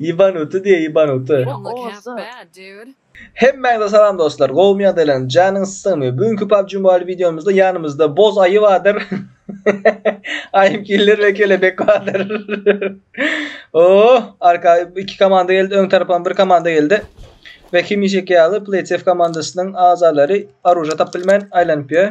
Ýebanuty diýe ýebanuty. Hemmäňize salam dostlar gowumy ýagdaýlaryňyz janyňyz sygmy bu günki PUBG Mobile wideomyzda ýanymyzda boz aýy bardyr Aýym killer we kelebek bardyr Oh arka iki komanda geldi öň tarapam bir komanda geldi we hemişeki ýaly PlaySafe komandasynyň agzalary aruja tap bilmän aýlanyp ýör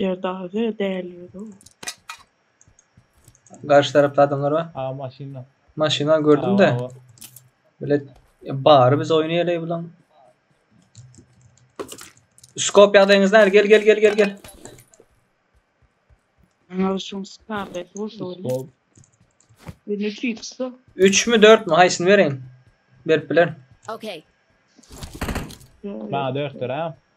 Erdaze däl ýöne. Garşy tarapda adamlar bar. Ha maşynda. Maşyna gördüm de. Bile bari biz oyunu ele bulan. Skop ýagdaýyňyz näme? Gel gel gel gel gel. Ana şun skarlet bolsa öyle. Skop. Bir ne fixda. 3 mü 4 mü haýsyny bereýin? Berip bilerin. Okay. Bana dörtdür ha.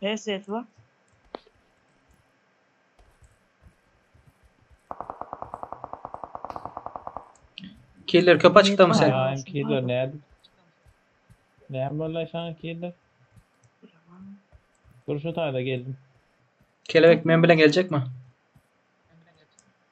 Her ses var. Killer köp açykda mı sen? Ya hem killer ne? Ne böyle şan killer? Dur şu tayda geldim. Kelebek men bilen gelecek mi?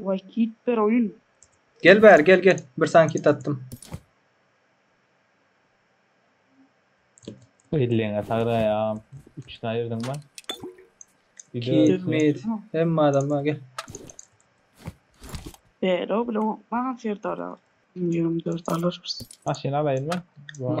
Vay kit bir oyun. Gel bäri gel gel. Bir sankit attym. Elleňe sagda ya. 3 tane yerden var. Bir de Kit ölse. mid. Hemme adam var gel. Değer o bile o. Bana serdara. 24 alırız. Aşyny alayım ben. Bu-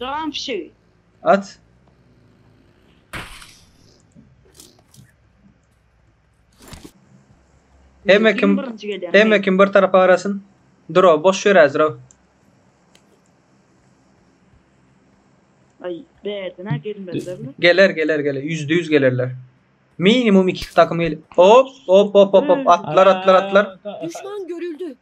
Dogan fişegi. At. Hemme kim birinji gelýär. Hemme kim bir tarapa garasyn. Dro boş ýör äzro. Ay berdin ha gelmezler mi? Geler geler geler. Yüzde yüz gelirler. Minimum iki takım gel. Hop hop hop hop hop. Atlar atlar atlar. Düşman görüldü.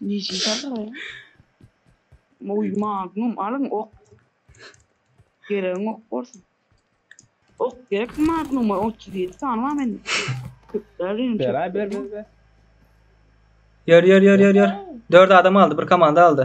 Niji salary. Moý magnum alyň ok. Geregiň ok bolsun. Ok gerek magnuma 37 sany bar mende. Köplerin Beray ber ber ber. Ýör ýör ýör ýör ýör. 4 adam aldy, bir komanda aldy.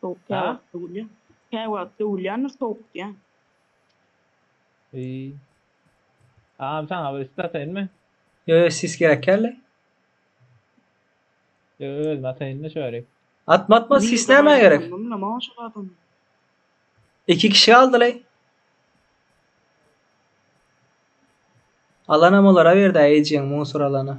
Sowuk kä wagt döwülýär. Kä wagt döwülýändir sowuk diýýän. Eý. Agam saňa bir isle ataýynmy? Ýo ýo sis gerekýärle. Ýo özüme ataýynda şörik. Atma atma sis nämä gerek? Iki kişi galdylaý. Alanam olara berdi ejeň musur alana.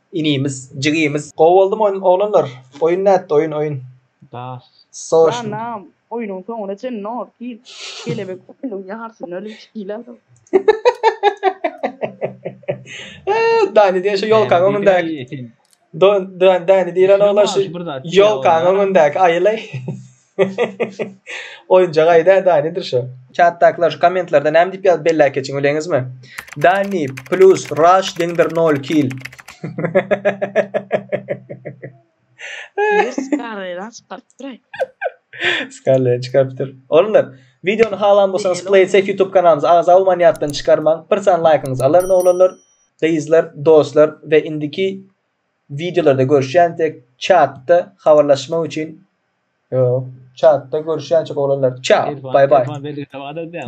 Inimiz jigimiz gowy boldymy oýun oglanlar oýun nätdi oýun oýun. Das. Soşn. Janam oýnuň soňuna çen not gir kelebek oýnuň ýarsyny ölüp çykylalyň. Dani diýen şu ýolkaň öňündäki. Dani diýlen oglan şu ýolkaň öňündäki aýylaý. Oýunjak aýda da nedir şo? Çatdakylar şu kommentlarda näme diýip ýazyp belläp geçiň bileňizmi? Dani plus Rush deňdir nol kill. Ýer skarleýan çykarypdyr-aý. Skarleýan çykarypdyr. Oglanlar, wideony halan bolsaňyz Play Safe YouTube kanalymyza agza bolman ýatdan çykarmaň. Bir sany laýkyňyzy alaryn oglanlar, gyzlar, dostlar we indiki Wideolarda görüşýänsek çatda habarlaşmak üçin ýok çatda görüşýänçik oglanlar çao bay bay. Telefon belgisi bar edýäň.